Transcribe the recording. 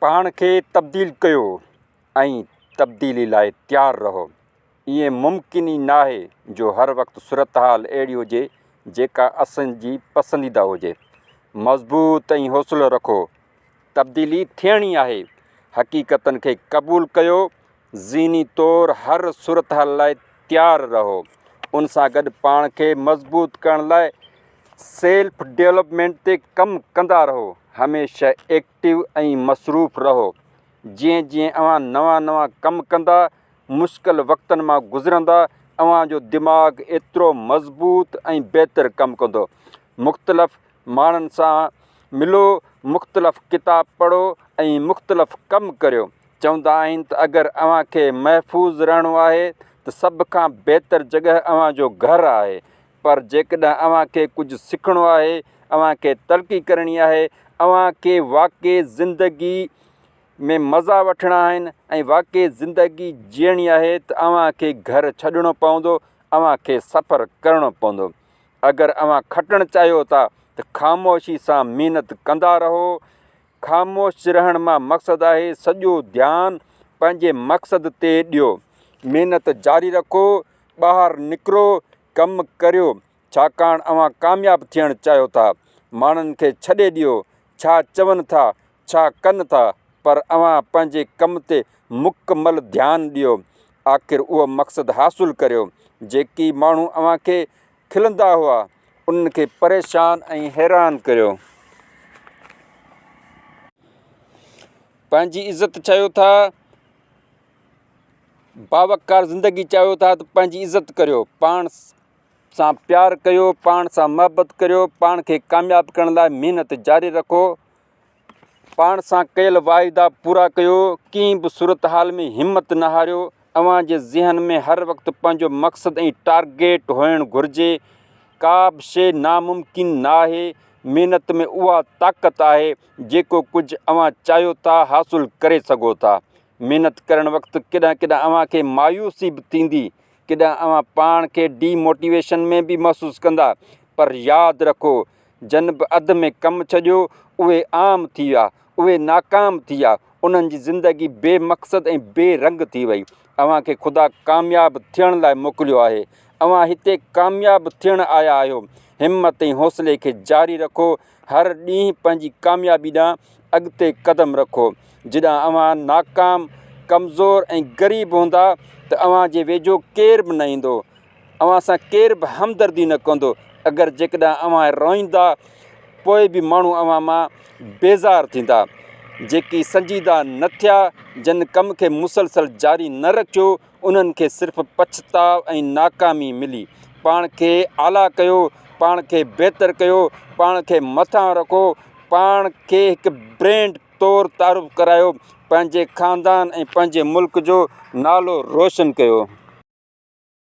پاڻ کي تبديل ڪيو ۽ تبديلي لاء تيار رهو. ائين ممڪن ئي ناهي جو هر وقت صورتحال اهڙي هجي جيڪا اسان جي پسنديده هجي. مضبوط ۽ حوصلو رکو. تبديلي ٿيڻي آهي. حقيقتن کي قبول ڪيو. ذھني طور ھر صورتحال لاء تيار رھو. ان سان گڏ پاڻ کي مضبوط ڪرڻ لاء سيلف ڊيولپمينٽ تي ڪم ڪندا رھو. ھميشه ايڪٽو ۽ مصروف رھو. جيئن جيئن اوھان نوان نوان ڪم ڪندا، مشڪل وقتن مان گذرندا، اوھان جو دماغ ايترو مضبوط ۽ بهتر ڪم ڪندو. مختلف ماڻھن سان ملو، مختلف ڪتاب پڙھو ۽ مختلف ڪم ڪريو. چوندا آهن ته اگر اوهان کي محفوظ رهڻو آهي ته سڀ کان بهتر جڳهه اوهان جو گهر آهي پر جيڪڏهن اوهان کي ڪجهه سکڻو آهي، اوهان کي ترقي ڪرڻي آهي، اوهان کي واقعي زندگي ۾ مزا وٺڻا آهن ۽ واقعي زندگي جيئڻي آهي ته اوهان کي گهر ڇڏڻو پوندو، اوهان کي سفر ڪرڻو پوندو. اگر اوهان کٽڻ چاهيو ٿا ته خاموشي سان محنت ڪندا رهو. خاموش رهڻ مان مقصد آهي سڄو ڌيان پنهنجي مقصد تي ڏيو محنت جاري رکو ٻاهر نڪرو ڪم ڪريو ڇاڪاڻ اوهان ڪامياب ٿيڻ چاهيو ٿا ماڻهن کي ڇڏي ڏيو ڇا چون ٿا ڇا ڪن ٿا پر اوهان پنهنجي ڪم تي مڪمل ڌيان ڏيو آخر اهو مقصد حاصل ڪريو جيڪي ماڻهو اوهان کي کلندا هئا، انهن کي پريشان ۽ حيران ڪريو. پنهنجي عزت چاهيو ٿا، باوقار زندگي چاهيو ٿا ته پنهنجي عزت ڪريو، پاڻ سان پيار ڪيو، پاڻ سان محبت ڪريو، پاڻ کي ڪامياب ڪرڻ لاء محنت جاري رکو. پاڻ سان ڪيل واعدا پورا ڪيو، ڪنهن به صورتحال ۾ همت نه هاريو، اوهان جي ذهن ۾ هر وقت پنهنجو مقصد ۽ ٽارگيٽ هئڻ گهرجي، ڪا به شيء ناممڪن ناهي، محنت ۾ اها طاقت آهي، جيڪو ڪجهه اوهان چاهيو ٿا حاصل ڪري سگهو ٿا، محنت ڪرڻ وقت ڪڏهن ڪڏهن اوهان کي مايوسي به ٿيندي، ڪڏهن اوهان پاڻ کي ڊي موٽيويشن ۾ به محسوس ڪندا، پر ياد رکو. جن به اڌ ۾ ڪم ڇڏيو، اهي عام ٿي ويا، اهي ناڪام ٿي ويا، انهن جي زندگي بي مقصد ۽ بي رنگ ٿي وئي. اوهان کي خدا ڪامياب ٿيڻ لاء موڪليو آهي. اوهان هتي ڪامياب ٿيڻ آيا آهيو. همت ۽ حوصلي کي جاري رکو. هر ڏينهن پنهنجي ڪاميابي ڏانهن اڳتي قدم رکو. جڏهن اوهان ناڪام، ڪمزور ۽ غريب هوندا ته اوهان جي ويجهو ڪير به نه ايندو. اوهان سان ڪير به همدردي نه ڪندو، اگر جيڪڏهن اوهان روئيندا، پوء به ماڻهو اوهان مان بيزار ٿيندا. جيڪي سنجيده نه ٿيا، جن ڪم کي مسلسل جاري نه رکيو، انهن کي صرف پڇتاء ۽ ناڪامي ملي. پاڻ کي اعليٰ ڪيو، پاڻ کي بهتر ڪيو، پاڻ کي مٿانهون رکو، پاڻ کي هڪ برينڊ طور تعارف ڪرايو، پنهنجي خاندان ۽ پنهنجي ملڪ جو نالو روشن ڪيو.